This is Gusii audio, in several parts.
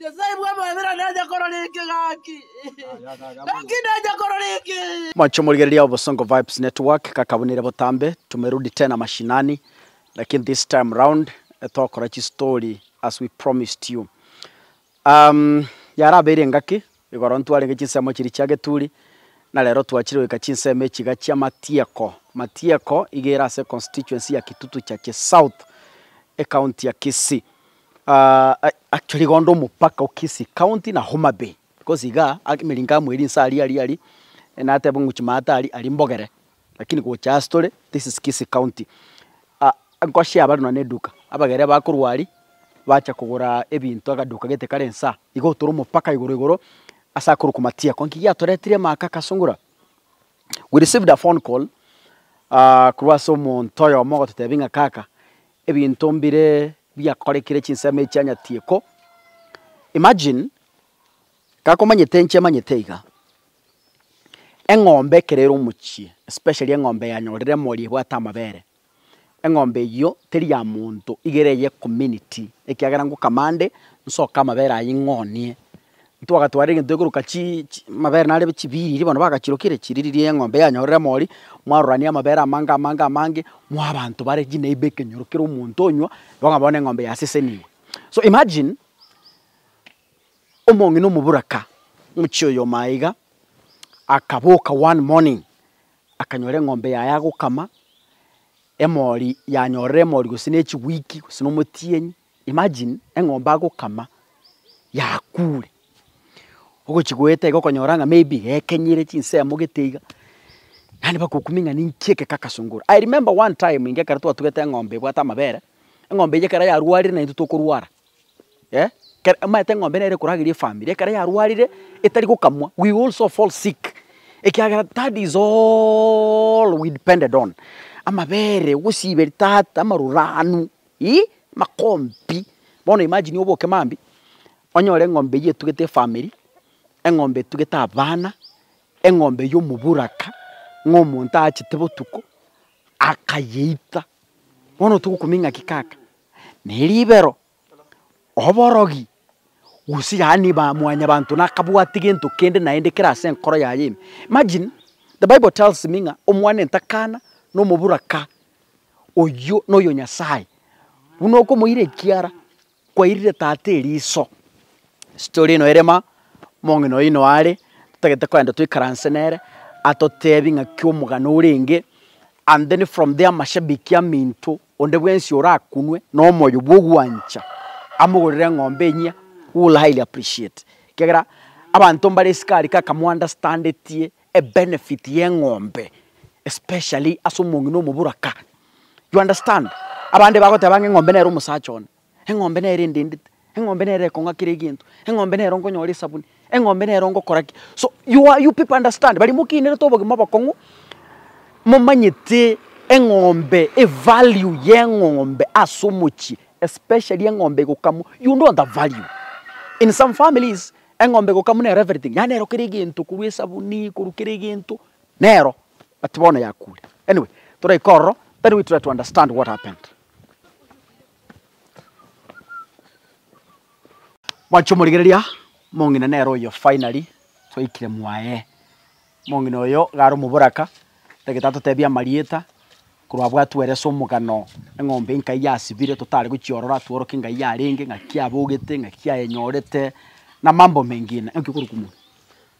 Nyasae bw'amabera nacha korora ekegaki, gaki nacha korora eke. Mwancho morigereria Obosongo Vibes Network kakabunire botambe tumerudi tena mashinani lakini this time round togokora chistory as we promised you. Um, yarabeire engaki igoro ntwarenge chinsemo chiria chia geturi na rero twachire goika chinsemo echiga chia Matieko. Matieko iga ere ase constituency ya Kitutu Churches South, ecounty ya Kisii. Aa rigondo omopaka o Kisii county na Homa Bay, because igaa emeringo amo eri inse aria aria aria, nateba ng'a chimata aria aria mbogere, lakini gocha ase tore this is Kisii county. Aa ngosii aba buna eduka, abagere bakorwa aria bacha kogora ebinto agaduka gete kare inse aa, iga otore omopaka igoro igoro ase akorokwa Matiako, nki giatoretire amaka akasungora? We received a phone call aa korwa ase omonto oyomo ogototebia ng'a kaka ebinto mbire. Biakorekire chinsemo echia nyatieko. Imagine gakomanyete inche emanyete iga. Eng'ombe ekero ere omochie especially eng'ombe yanyorire emori ebwate amabere, eng'ombe eyio teri ya monto iga ere eye community ekiagera ngokama ande nsoke amabere ayio ing'onie Ntwagatwara egento gekoroka chii chi amabere narebe chibiiri bono bagachirokire chiri riria eng'ombe yanyorire mori, mwarorania amabere amange amange amange, moa abanto bare chineiba ekenyoro kera omonto onywa, igo okonyora bono eng'ombe yasesenigwe. So imagine, omong'ina omoboraka, omochie oyomo aye iga, akaboka one morning, akanyora eng'ombe yaye agokama, emori yanyorire emori gose ne echiwiki gose na omotienyi, Imagine eng'ombe agokama yakuure, ogochia goeta iga okonyora ng'a maybe ekenyire chinsemo gete iga, yaani mpaka okumie ng'a ninki eke kakasongora. I remember one time inga ekero twatugete eng'ombe ebwate amabere, eng'ombe eyio ekero yarwarire naintwe tokorwara eh, kera omanyete eng'ombe nere ekorageria efamiri, ekero yarwarire etari gokamwa we also fall sick ekiagera that is all we depended on, amabere, ogosiberia tata, amaruranu. Ii, makompi, bono imagine oboke mambia, onyore eng'ombe eyio etugete efamiri, eng'ombe etugete abana, eng'ombe ya omoburaka, ng'a omonto aachete botuko, akayeita, bono togokumia ng'aki kaka? Na eribero, oborogi, gose yaani ba mwanyabanto nakabwati gento kende naende kere ase enkoro yaye ime. Imagine, the bible tells me ng'a omwana entakana na omoburaka oyio noyo Nyasaye buna okomoira ekiara kwairire tata eriso. Story eno ere ma, omong'ina oino are totagete kogenda toikaranse nere atotebi ng'aki omogano orenge and then from there mashabiki aminto Onde bwensi orakunwe nomoyo bw'ogwancha amogorere eng'ombe enyia we will highly appreciate ekiagera abanto mbare esiko aria kaka mo understandetie ebenefit y'eng'ombe especially ase omong'ina omoboraka you understand? Abande bagoteba ng'a eng'ombe nere omosacha one Eng'ombe nere endendete, eng'ombe nere ekong'a kera egento, eng'ombe nero nkonyora esabuni, eng'ombe nero ngokora ki. So you are you people understand baria mokiinerete obogima obokong'u momanyete eng'ombe evalue ya eng'ombe ase omochie especially eng'ombe egokamwa you know the value. In some families eng'ombe egokamwa nero everything yaani nero kera egento korwa esabuni korwa kera egento nero but bono yakure. Anyway toraika ororo then we try to understand what happened. Mwachia omorigereria, omong'ina nere oyo finally twaikire mwaye. Omong'ina oyo iga are omoboraka, tagete atotebie amarieta, korwa abwo atwere ase omogano eng'ombe enka eyio yasibire totari gochiorora, tworoke ng'a eyio yarenge, ng'aki abogete, ng'aki ayenyorete, na mambo mengine. Naki okorokwa mono.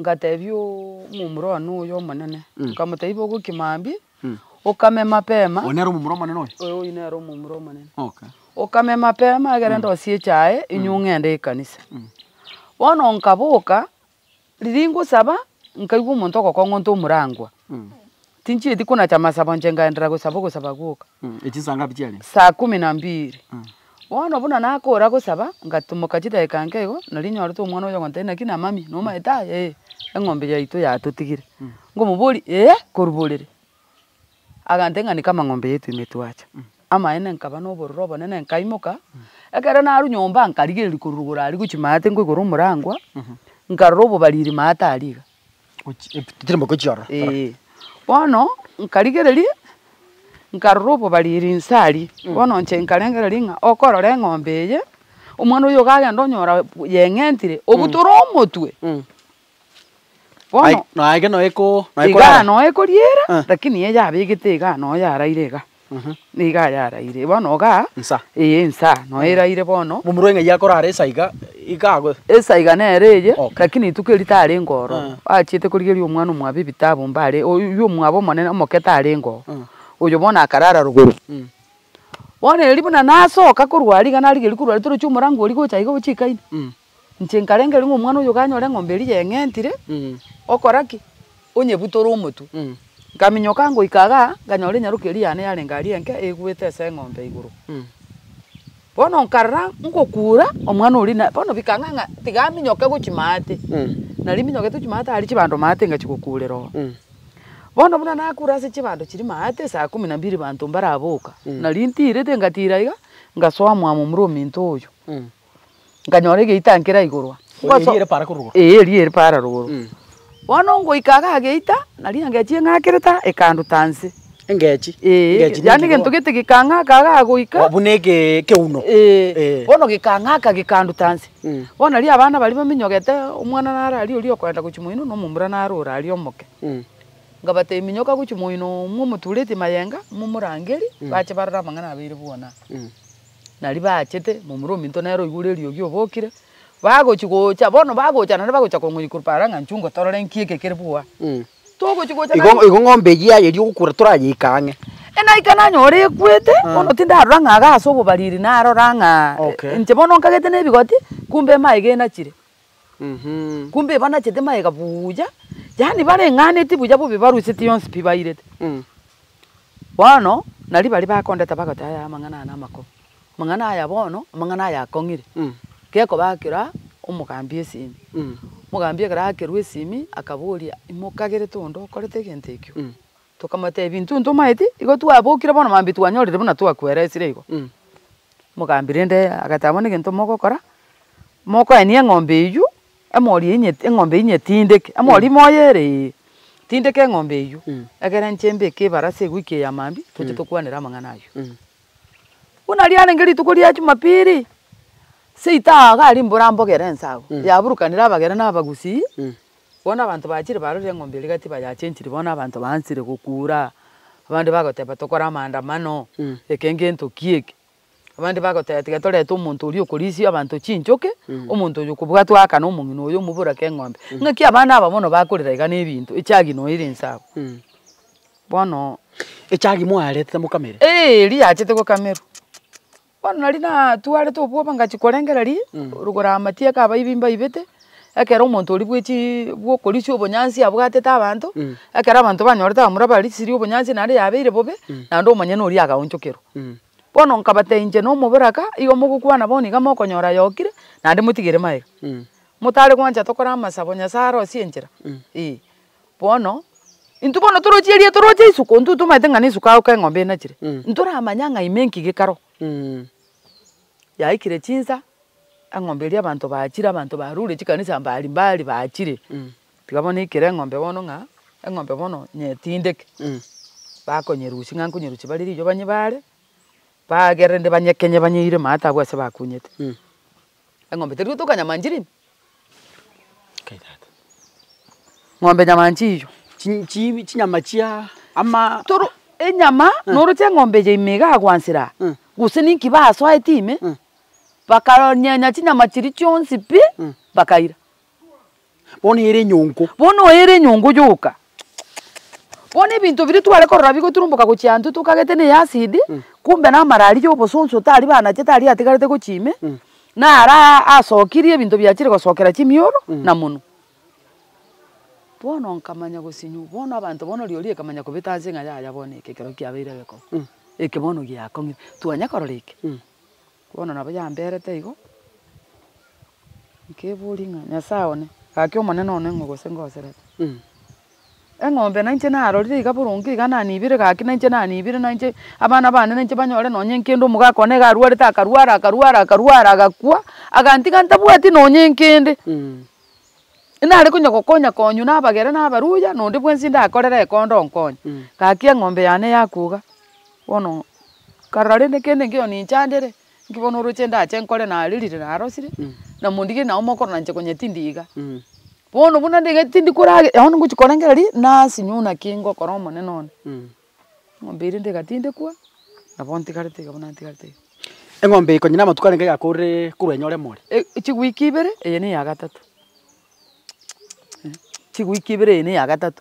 Ngatebia omomura one oyo omonene, nkamotebia, Iba ogokia mambia, okame mapema. Oyo nere omomura omonene oyo? Ee, oyio nere omomura omonene. Okay. Okame mapema egere ndosie echae, inywe ng'ende ekanisa. Bono nkaboka, riria ngosaba, nkaigwa omonto ogokong'onta omorangwa. Tinchieti konacha amasabo inche ngaenderera gosaba ogosaba gwoka. Echi saa ngapi chiarenge? Saa kumi na mbiri. Bono buna nakora gosaba, ngatomoka chidageka nke igo, nari nyorete omwana oyo ogontebia naki na mami, nomaete aye? Ee, eng'ombe yaito yatotigire. Nkomoboria, ee, koruborere? Agantebia ng'a niko amang'ombe yaito ime twacha. Amaene nkaba na obororo obonene nkaimoka, ekero narwa nyomba nkarigereria korwa rogoro aria gochia maate nkoigora omorangwa, nkarora obobariri maate aria iga. Chimboko chiaro. Eeh. Bono nkarigereria nkarora obobariri inse aria, bono inche nkarengereria ng'a okorora eng'ombe eye, omwana oyo iga agenda onyora yeng'entire obutore omotwe. Bono. Aye naki noe ko. Igaa noe koriera, lakini eye yabegete igaa noe yaraire igaa. Nigo ayaraire bono igaa. Nsa. Ee nsa noyo eraire bono. Momura eng'ai akorara esa iga iga ago. Esa iga nere eye Okay. lakini rituko eri tarenge ororo. Eh. Achiete korigeria omwana omwabo ebitabu mbare oyio omwabo omonene omoke tarenge oo. Eh. Oyo bono akarara rogoro. Bono eri buna nasoka korwa aria iga narigeria korwa aria torochia omorango oria gocha iga gochika ime. Inche nkarengereria ng'a omwana oyo kanyora eng'ombe eria yeng'entire, okora ki? Onyebutore omotwe. Nkaminyoka ngoika iga, nkanyora enyaroki eria yane yarenge aria enke eegwete ase eng'ombe igoro. Bono nkarora ngokuura, omwana oria na, bono bikang'a ng'a tiga aminyoke go chimaate. Nari minyokete chimaate aria chibando maate ngachia gokuurera oo. Bono buna nakuura ase chibando chiria maate, saa kumi na mbili banto mbaraboka, nari ntiirete, ngatiira iga, ngasoa mwamo mura ominto oyo. nkanyora egeita ankera igoro aa. Ngoso- Eria ere para korwa igoro. Ee eria ere para rogoro. Bono ngoika iga ageita, nario engechii eng'akerete aa, ekanduta nse. Engechi? Ee, Engechi yaani ninki egento korwa- gete gekang'aka iga agoika. Oh, buna eke- ekeuno. Ee, Eh. bono gekang'aka gekanduta nse. Mm. Bono nario abana baria baminyogete, omwana naro aria oria okoenda gochia moino, na omomura naro ore aria omoke. Mm. Nkabatebia, Minyoka gochia moino, mwe omoturetie mayenga, momorangerie, bache barore amang'ana abeire bwonaa. Mm. Naria baachete, momura ominto nere oigure eriogi obokire, bagochi gocha, bono bagocha naende bagocha kong'oria korwa para ng'a nchungo torore nki eke kere bwoa. Togochi gocha Igo naende. igo ng'ombe eyio yaye eria ogokura torayeika ang'e. E naika nanyora ekwete, bono tindarora ng'a iga ase obobariri narora ng'a Okay. inche bono nkagete na ebigoti, kumbe emaiga enachire. Kumbe banachete magega buya, yaani bareng'aneti buya bobe baruseti yonsi pi bairete. Bono nario baria bakondeta bagoteba yaya amang'ana aya namakong'u, amang'ana aya bono, amang'ana aya akong'ire, gekoba akira omogambi esimi. Omogambi ekero akerwa esimi akaboria, imokagerete onde okorete egento ekio? Tokamotebia, Intwe ntomaeti, igo twabokire bono mambia twanyorire buna twakweraesire igo. Mogaambia, Rende agateba, Bono egento mogokora, mokoenia eng'ombe eyio, emori eyio nyet- eng'ombe eyio nyetindeke, emori moyo ere ee, tindeka eng'ombe eyio, egere inche mbeke ebarasi egoika eya mambia, toche tokwanere amang'ana ayio. Buna riarenge rituko ria Jumapili, seito aa iga aria mbora mbogere ense abwo, yaburukanire abageni na Abagusii, Bono abanto bachire barorire eng'ombe eria gati bayachenchiri bono abanto baansire gokuura, abande bagoteba tokore amaandamano, reka engento ki eke. Abande bagoteba tiga torete omonto oria okorisia abanto chinchoke, omonto oyo okobwatwa aakane omong'ina oyo omoborake eng'ombe. Ng'aki abana aba bono bakorera iga na ebinto, echagi noyo ere inse abwo. Bono. Echagi moarete mokamere? Eeh eria yachete gokamerwa. Bono nari natwarete obwoba ngachia korengereria rogoro amatia ekabaibi mbaibete, ekero omonto oria bwechi bwokorisia obonyansi abwatete abanto, ekero abanto banyorete abamura barisirie obonyansi naende yabeire bobe, naende omonyene oria agaonchokerwa. Bono nkabatebia inche na omoboraka igo mogokwana bono iga mokonyora ayokire, naende motigere magega. Motare gwancha tokore amasabo Nyasae arosie enchera, eh. Bono intwe bono toroche eria toroche isuka ontwe tomaete ng'a nesuka agoka eng'ombe enachire ntoramanya ng'a ime nki gekaro. Yaikire chinsa eng'ombe eria abanto bachire abanto barure chikanisa mbari mbari bachire tiga bono naikire eng'ombe bono ng'a eng'ombe bono nyetindeke bakonyerusia ng'a nkonyerusia bare riroba nyibare bagere rende banyekenye banyeire maate abwo ase bakunyete. Eng'ombe teri gotoka nyamanchiri ime? Nkai tata. Ng'ombe nyamanchi iyo. Chi chi chinyama chia ama. Toro enyama noroche eng'ombe eye ime igaa gwansera aa, gose ninki basoete ime, bakanyenya chinyama chiria chionsi pi, bakaira. Bono ere enyongo. Bono oyo ere enyongo yoka. Bono ebinto biria tware korora bigoturumboka gochia intwe tokagete ne acid, kumbe na amarari ya obosonso tari banache tari atigarete gochia ime, nara asokirie ebinto biachire gosokera chimioro na monwe. Bono nkamanya gosinywa, bono abanto bono riori ekamanya kobeta ase ng'a yaya bono eke ekero kiabeire gekonge, eke bono giakongire. Twanya korora eke. Bono nabo yamberete igo, nkeboria ng'a Nyasae one, gaki Omonene one ng'o gose ngoserete? Eng'ombe nainche narorire iga boronge iga nanibire gaki nainche nanibire nainche abana bane nainche banyore nonye nkende omogaka one iga arwarete akarwara akarwara akarwara agakwa, agantiga ntabwati nonye nkende. Nare konya gokonya konywa na abagere na abaruya na onde bwensi ndakorere ekonda onkonye. Gaki eng'ombe yane yakwa iga. Bono nkarora rende kende nkeiyo ninchandere, nki bono oroche ndache nkore nare rire narosire, na mondige nao mokoro nanche konya tindi iga. Bono buna ndigete tindi korage bono ngochi korengera ri nasinywa buna ki ngokora omonene one. Eng'ombe eria niga tindekwa, nabo ntigarete iga buna ntigarete iga. Eng'ombe eye konya na amatuko arenge yakorire korwa enyore more. Ech- chiwiki ibere eye ne ya gatato. chigwiki ibere eye ne ya gatato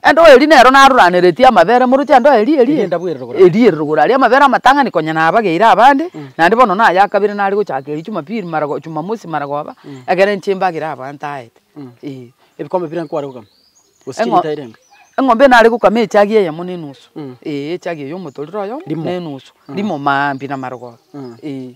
endoe eria nero naroraneretie amabere moroche endoe eria eria Eria ndabwera rogoro aria. eria ere rogoro aria amabere amatang'ani konya nabageire abande naende bono naye akabere nare gochaka erio chumapiri maragoba chumamosi maragoba ekero inche mbagere abwo ntaete eh. Ebikombe bire nkware kogama? Gose Eng'o- chilita ere enga? eng'ombe nare gokama echagi eyemo na enusu Mm. eh echagi eye omotorero oyomo Rimo. na enusu rimo maambia na marogoba eh.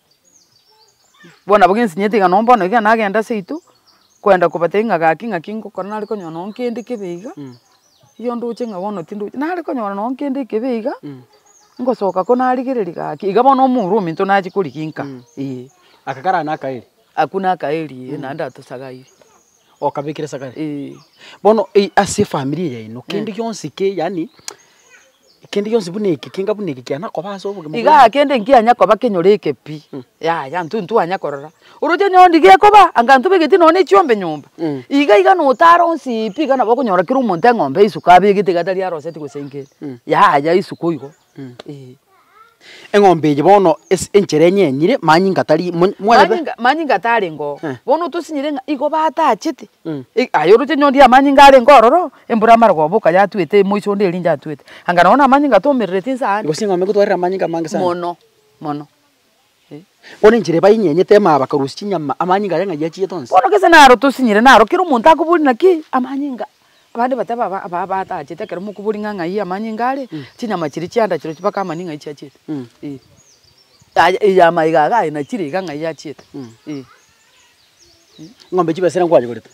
bono nabo gensinyeti iga nonye bono iga nagenda ase intwe, kwenda kobatebia ng'a gaki ng'aki ngokora nare konyora nonye kende kebe iga, erio ndoche ng'a bono tindoche, nare konyora nonye kende ekebe iga, ngosoka ko narigereria gaki, iga bono omorwa ominto nachi koriginka, eh. Aka karara na akaeri? Aku na akaeri eh, naende atosagaire. Okabekire esakari? Eh. Bono ase efamiri eye yaino, kende gionsi ki yaani. Ekende gionsi buna eke, kenga buna eke kiana koba ase obogima bwaino. Igaa kende nkianya koba kenyore ekepi, yaya intwe ntwanya korora. Oroche onye onde gekoba, anga intwe begeti nonya ne chiombe nyomba, iga iga notara onsi pi, iga nabo okonyora kera omonto eng'ombe ya isuka abegete iga tari aroseti gose enkende, yaya isuka oigo, eeh. Eng'ombe eye bono ase enchera enye enyire, manyinga tari mo, mwerebe. Manyinga, manyinga tarengeo. Eh. Bono tosinyire ng'a igo batachete. Mm. I- Aye oroche nyoondi y'amanyinga arenge ororo, embura amare koboka yatwete emoiso onde eringe atwete. Anga nao namanyinga atomerereti inse aane. Gose eng'ombe egotwarire amanyinga amange sana. Mono, mono. Eh. Bono enchera eba enyenyete maa bakarusia chinyama, amanyinga aria ng'ai achiete onsi. Bono gese naro tosinyire naro kera omonto akoboria naki amanyinga Abande bateba aba aba batachete ekero mokobori ng'a ng'ai amanyinga are, chinyama chiria chiandachirwe chibake amani ng'ai chiachiete. Ee. Aye eye amaiga iga aye nachire iga ng'ai achiete. Ee. Ng'ombe chibesa ere nkwanyegorete.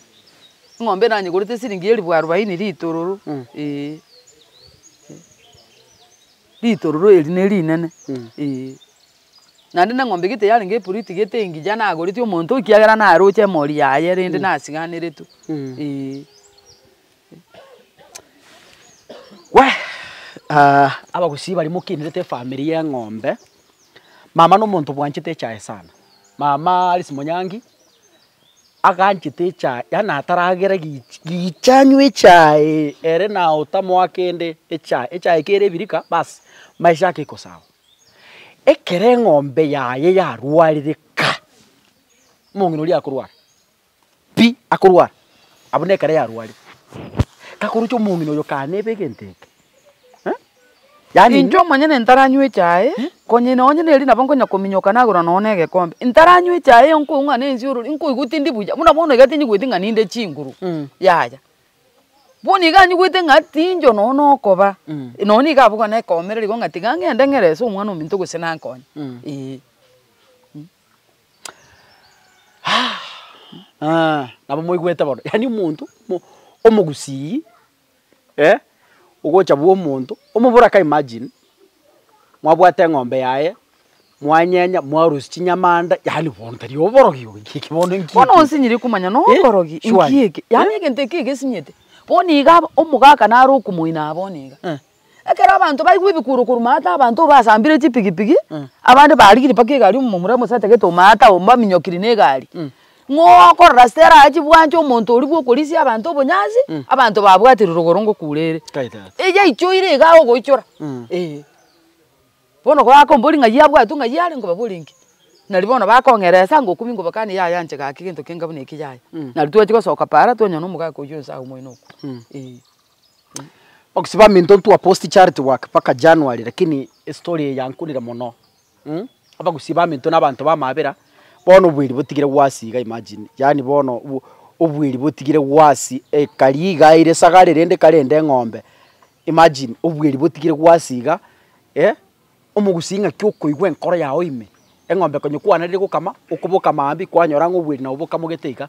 Ng'ombe nanyegorete siringi elifu arubaini ritororo. Ee. Ritororo eri nerinene. Ee. Naende neng'ombe gete yarenge eporiti gete engiya nagoretie omonto ekiagera naroche emori yaye rende nasiganeretwe eeh. abagusii baria mokenerete efamiri ya eng'ombe, mama na omonto obwanchete echae sana, mama Alice Monyangi aganchete echae yaani ataragera gichi gicha anywe echaee ere naye otamoa kende echae, echae ekere ebirika bas maiso ake ekosawa. Ekero eng'ombe yaye yarwarire ka, omong'ina oria akorwara pi, akorwara abwo na ekero yarwarire. Kakoroche omong'ina oyo kaa neba egento eke eh, yaani. Inche omonyene ntaranywa echae, konya ino onye neeri nabo nkonya kominyoka nagora nonye na egekombe, ntaranywa echae eyio nkoigwa ng'a na ense ororo, nkoigwa tindi buya, buna bono iga tinyigoeti ng'a ninde chinguru, yaya. Bono iga anyigwete ng'a tinchoka nonya nokoba, nonya nigo abogwa na ekeomerero igo ng'a tiga ng'ende ng'erese Omwana-o-ominto gose nankonye, ee. nabo moigwete bono, yaani omonto mo omogusii ogocha bwomonto, omobura ka imagine, mwabwate eng'ombe yaye. mwanyenya, mwarusia chinyamanda, yaani bono tari oborogi obo, eki eki bono nki Bono eki? onsinyire komanya no Eh, okorogi inki surely. eke? Yaani egento eke egesinyete. Bono iga aba- omogaka naro okomoina aa bono iga. Eh. Ekero abanto baigwa ebikuro korwa maata abanto basambire chipigipigi, abande barigirie mpaka egari omomura mosetagete oo maata oo mbaminyokiri na egari. Ng'oo okorora ase tera achi bwancha omonto oria bwa okorisia abanto obonyansi, abanto babwatire rogoro ngokuura ere. Kae tata. Eyaichoire iga agoichora. Eh. Bono kobakombori ng'ai abwatwe ng'ai are nkobabore inki? Nari bono bakong'eresa ngokumia nkobakanie yaya anche gaki gento kenga buna eki yaya. Nari twachia gosoka para twanywa na omogaka oyio onsi agwo moino okwo. Eeh. Okisibamia into ntwa post charity work mpaka January lakini estory eye yankunire mono mh abagusibamia into na abanto bamabera bono obweri botigire gwasi iga imagine yaani bono obweri botigire gwasi ekari iga ere sagare rende kare ende eng'ombe Imagine obweri botigire gwasiga eh omogusi ng'aki okoigwa enkoro yao ime, eng'ombe konye kwanarire gokama okoboka maambia kwanyora ng'a obweri nabo bokamogete iga,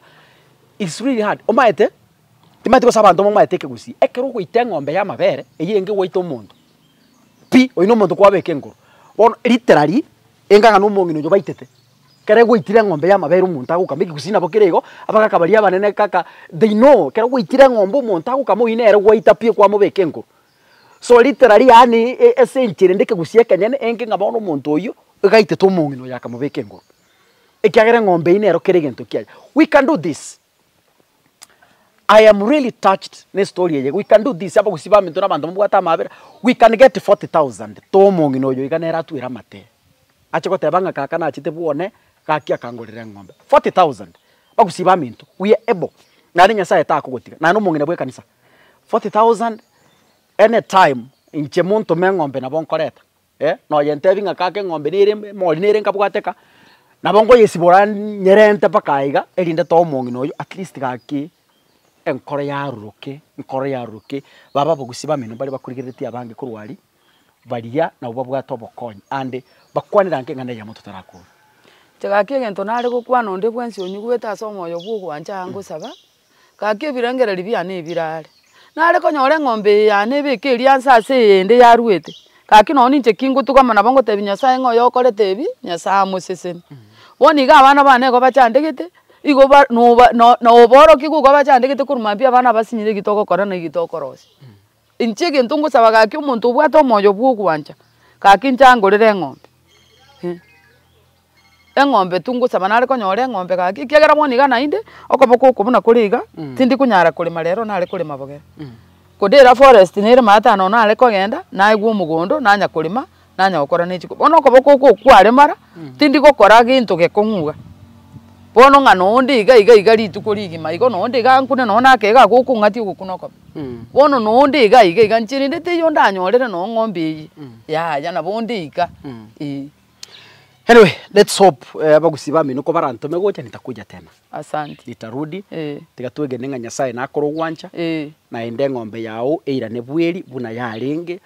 it's really hard omaete timanyete gose abanto momaete ekegusii ekero ogoita eng'ombe y'amabere eyio enge gwaita omonto pi oyio na omonto kwabeka enkoro bono ritera ri enga ng'a na omong'ina oyio baitete. Kere gwaitire eng'ombe y'amabere omonto agokama ekegusii nabo kere igo, abagaka baria abanene kaka they know kero gwaitire eng'ombe omonto agokama oyio nere gwaita pi okwamobeka enkuru. So literally yaani e esenchari rende ekegusii ekenyene enke ng'a bono omonto oyio iga aitete omong'ina oyo akamobeka enkuru ekiagera eng'ombe eyio nero kere egento kiaye. We can do this. I am really touched ne story eye we can do this abagusii baminto na abanto babwate amabera we can get 40,000 too omong'ina oyo iga nere atwere amatee ache goteba ng'a kaka nachete bwone gaki akangorera eng'ombe 40,000 bagusii baminto we are able naende Nyasaye takogotiga naende omong'ina bw'ekanisa 40,000 any time inche montome eng'ombe nabo nkoreta. eh, nonya ntebi ng'a kaka eng'ombe nere em- emori nere nkabwate ka, nabo nkoyesibora nyerente mpaka aye iga, erinde too omong'ina oyio at least gaki enkoro yaroroke, enkoro yaroroke, babe abagusii bamino mbaria bakorigereretie abange korwa aria, baria nabo babwate obokonyi ande bakwane ranke ng'a neyemo totarakora. Inche gaki egento nare gokwana onde bwensi onyigwete ase omoyo bwa ogwancha aa ngosaba, gaki ebirengererio biane ebirare. Nare konyora eng'ombe eye yane ebeke erianse ase eyende yaruete, gaki nonye ninche ki ngotugama nabo ngotebia Nyasae ng'a oyo okorete ebi, Nyasae amosesene. Bono iga abana bane nigo bachandegete, igo ba noba no noborokia igo igo bachandegete korwa mambia abana abasinyire egi togokora na egi tokorosia. Inche egento ngosaba gaki omonto obwate omoyo bw'ogwancha, gaki inche angorere eng'ombe. Eng'ombe tu ngosaba nare konyora eng'ombe gaki, ekiagera bono iga naende, okoboko oko buna kore iga, tindi konyara korema rero nare korema bogere. Kodira forest nere maate ano nare kogenda, naigwa omogondo, nanya korema. nanya gokora ne chiko. Bono okoboko okwo kware mara, tindi gokora gento gekong'uga. Bono ng'a na onde iga iga iga rituko rigima igo na onde iga ankune nonye na akega ako okong'atia ogokuna okobe. Bono na onde iga iga iga inche rende teiyo ndanyorere nonye ng'ombe eye, yaya nabo onde iga, eeh. Anyway, let's hope abagusii bamino ko barantome gocha nitakuja tena. Asante. Nitarudi, Eeh. tiga twegene ng'a Nyasaye nakorogwancha, Eeh. naende eng'ombe yago eirane bweri buna yarenge,